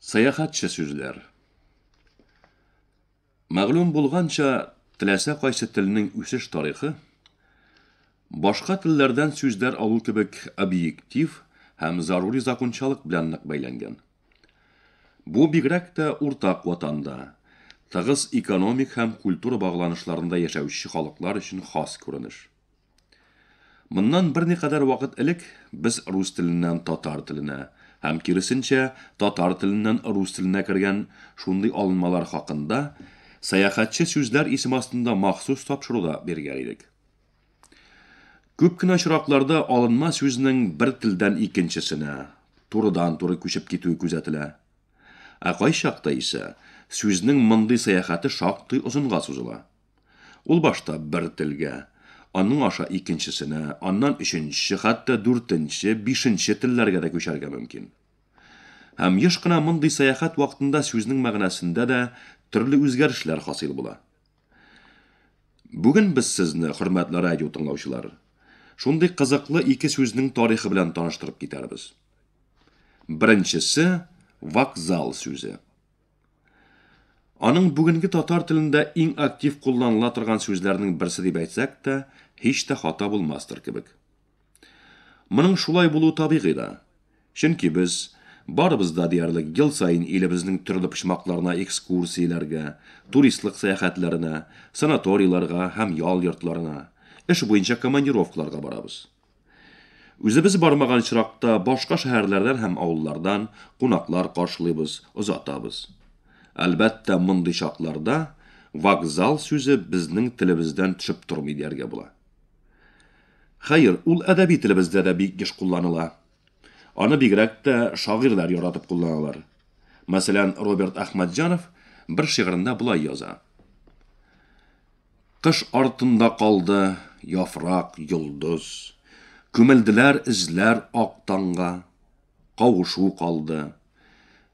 Сәяхәтче сүзләр. Мәгълүм булганча, теләсә кайсы телнең үсеш тарихы башка телләрдән сүзләр алу кебек объектив һәм зарури закончалык белән нык бәйләнгән. Бу бигрәк тә уртак ватанда, тыгыз экономик һәм культура багланышларында яшәүче халыклар өчен хас күренеш. Моннан берникадәр вакыт элек без рус теленнән татар теленә һәм киресенчә татар теленнән рус теленә кергән шундый алынмалар хакында сәяхәтче сүзләр исем астында махсус тапшыру да биргән идек. Күп кенә очракларда алынма сүзнең бер телдән икенчесенә турыдан-туры күчеп китүе күзәтелә. Ә кайчакта исә сүзнең мондый сәяхәте шактый озынга сузыла. Ул башта бер телгә, аның аша икенчесенә, аннан өченче, хәтта дүртенче, бишенче телләргә дә күчәргә мөмкин. Һәм еш кына мондый сәяхәт вакытында сүзнең мәгънәсендә дә төрле үзгәрешләр хасил була. Бүген без сезне, хөрмәтле радио тыңлаучылар, шундый кызыклы ике сүзнең тарихы белән таныштырып китәрбез. Беренчесе, вокзал сүзе. Аның бүгенге татар телендә иң актив кулланыла торган сүзләрнең берсе дип әйтсәк тә, һич тә хата булмастыр кебек. Моның шулай булу табигый да. Чөнки без барыбыз да диярлек ел саен илебезнең төрле почмакларына экскурсияләргә, туристлык сәяхәтләренә, санаторийларга һәм ял йортларына, эш буенча командировкаларга барабыз. Үзебез бармаган очракта башка шәһәрләрдән һәм авыллардан кунаклар каршылыйбыз, озатабыз. Әлбәттә, мондый чакларда вокзал сүзе безнең телебездән төшеп тормый дияргә була. Хәер, ул әдәби телебездә дә бик еш кулланыла. Аны бигрәк тә шагыйрьләр яратып кулланалар. Мәсәлән, Роберт Әхмәтҗанов бер шигырендә болай яза. Кыш артында калды яфрак, йолдыз, Күмелделәр эзләр ак таңга. Кавышу калды.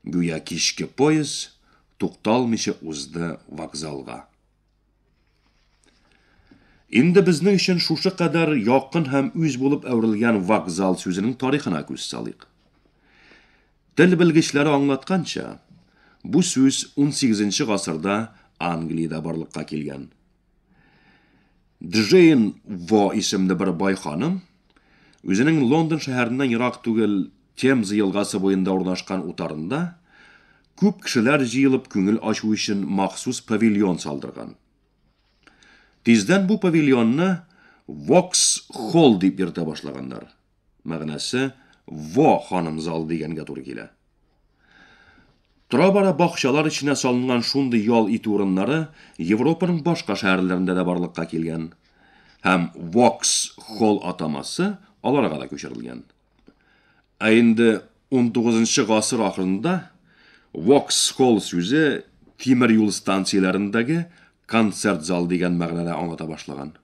Гүя кичке поезд Тукталмыйча узды вокзалга. Инде безнең өчен шушы кадәр якын һәм үз булып әверелгән вокзал сүзенең тарихына күз салыйк. Тел белгечләре аңлатканча, бу сүз 18 гасырда Англиядә барлыкка килгән. Джейн Во исемле бер бай ханым үзенең Лондон шәһәреннән ерак түгел Темза елгасы буенда урнашкан утарында күп кешеләр җыелып күңел ачу өчен махсус павильон салдырган. Тиздән бу павильонны Вокс Холл дип йөртә башлаганнар. Мәгънәсе, Во, ханым зал дигәнгә туры килә. Тора-бара бакчалар эченә салынган шундый ял итү урыннары Европаның башка шәһәрләрендә дә барлыкка килгән. Һәм Вокс холл атамасы аларга да күчерелгән. Ә инде 19 гасыр ахырында Вокс холл сүзе тимер юл станцияләрендәге концерт зал дигән мәгънәдә аңлата башлаган.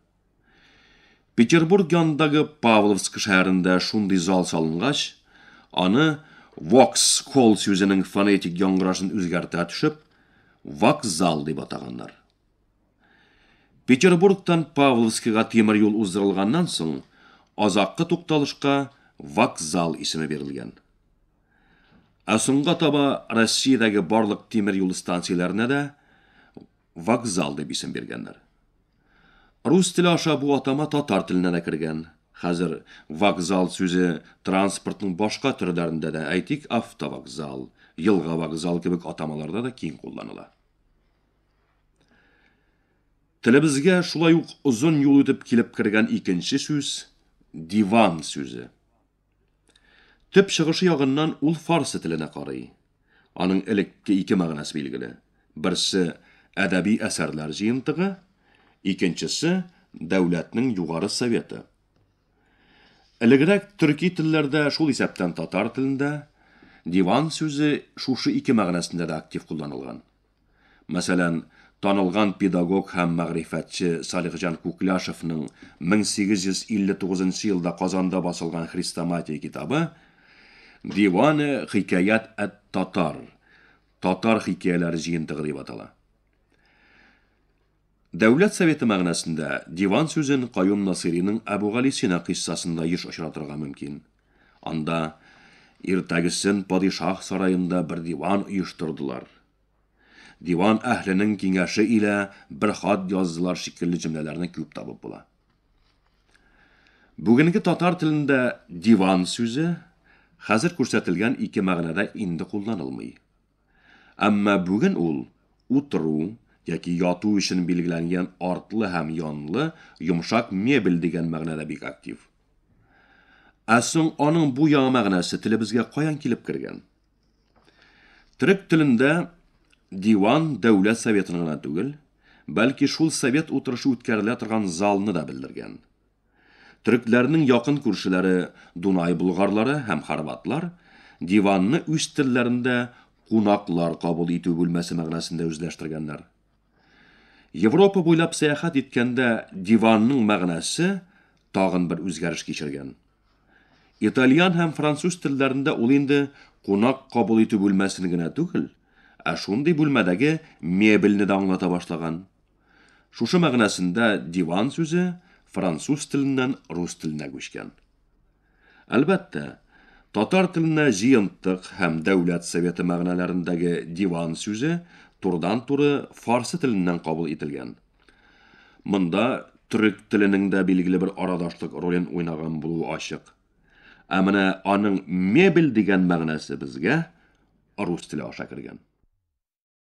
Петербург янындагы Павловск шәһәрендә шундый зал салынгач, аны vox кол сүзенең фонетик яңгырашын үзгәртә төшеп, вокзал дип атаганнар. Петербургтан Павловскига тимер юл уздырылганнан соң, азаккы тукталышка вокзал исеме бирелгән. Ә соңга таба Россиядәге барлык тимер юл станцияләренә дә Вокзал дип исем биргәннәр. Рус теле аша бу атама татар теленә дә кергән. Хәзер вокзал сүзе транспортның башка төрләрендә дә, әйтик, автовокзал, елга вокзал кебек атамаларда да киң кулланыла. Телебезгә шулай ук озын юл үтеп килеп кергән икенче сүз диван сүзе. Төп чыгышы ягыннан ул фарсы теленә карый. Аның элекке ике мәгънәсе билгеле. Берсе, әдәби әсәрләр җыентыгы, икенчесе, дәүләтнең югары советы. Элегрәк төрки телләрдә, шул исәптән татар телендә, диван сүзе шушы ике мәгънәсендә дә актив кулланылган. Мәсәлән, танылган педагог һәм мәгърифәтче Салихҗан Күкляшевның 1859 нчы елда Казанда басылган хрестоматия китабы Диване хикәят әт-татар, татар хикәяләре җыентыгы дип атала. Дәүләт Советы мәгънәсендә диван сүзен Каюм Насыйриның Әбүгалисина кыйссасында еш очратырга мөмкин. Анда, Иртәгесен падишаһ сараенда бер диван оештырдылар. Диван әһленең киңәше илә бер хат яздылар шикелле җөмләләрне күп табып була. Бүгенге татар телендә диван сүзе хәзер күрсәтелгән ике мәгънәдә инде кулланылмый. Әмма бүген ул утыру яки яту өчен билгеләнгән артлы һәм янлы йомшак мебель дигән мәгънәдә бик актив. Ә соң аның бу яңа мәгънәсе телебезгә каян килеп кергән? Төрек телендә диван дәүләт советын гына түгел, бәлки шул совет утырышы үткәрелә торган залны да белдергән. Төрекләрнең якын күршеләре Дунай болгарлары һәм хорватлар диванны үз телләрендә кунаклар кабул итү бүлмәсе мәгънәсендә үзләштергәннәр. Европа буйлап сәяхәт иткәндә диванның мәгънәсе тагын бер үзгәреш кичергән. Итальян һәм француз телләрендә ул инде кунак кабул итү бүлмәсен генә түгел, ә шундый бүлмәдәге мебельне дә аңлата башлаган. Шушы мәгънәсендә диван сүзе француз теленнән рус теленә күчкән. Әлбәттә, татар теленә җыентык һәм дәүләт советы мәгънәләрендәге диван сүзе турыдан-туры фарсы теленнән кабул ителгән. Монда төрек теленең дә билгеле бер арадашлык ролен уйнаган булуы ачык. Ә менә аның мебель дигән мәгънәсе безгә рус теле аша кергән.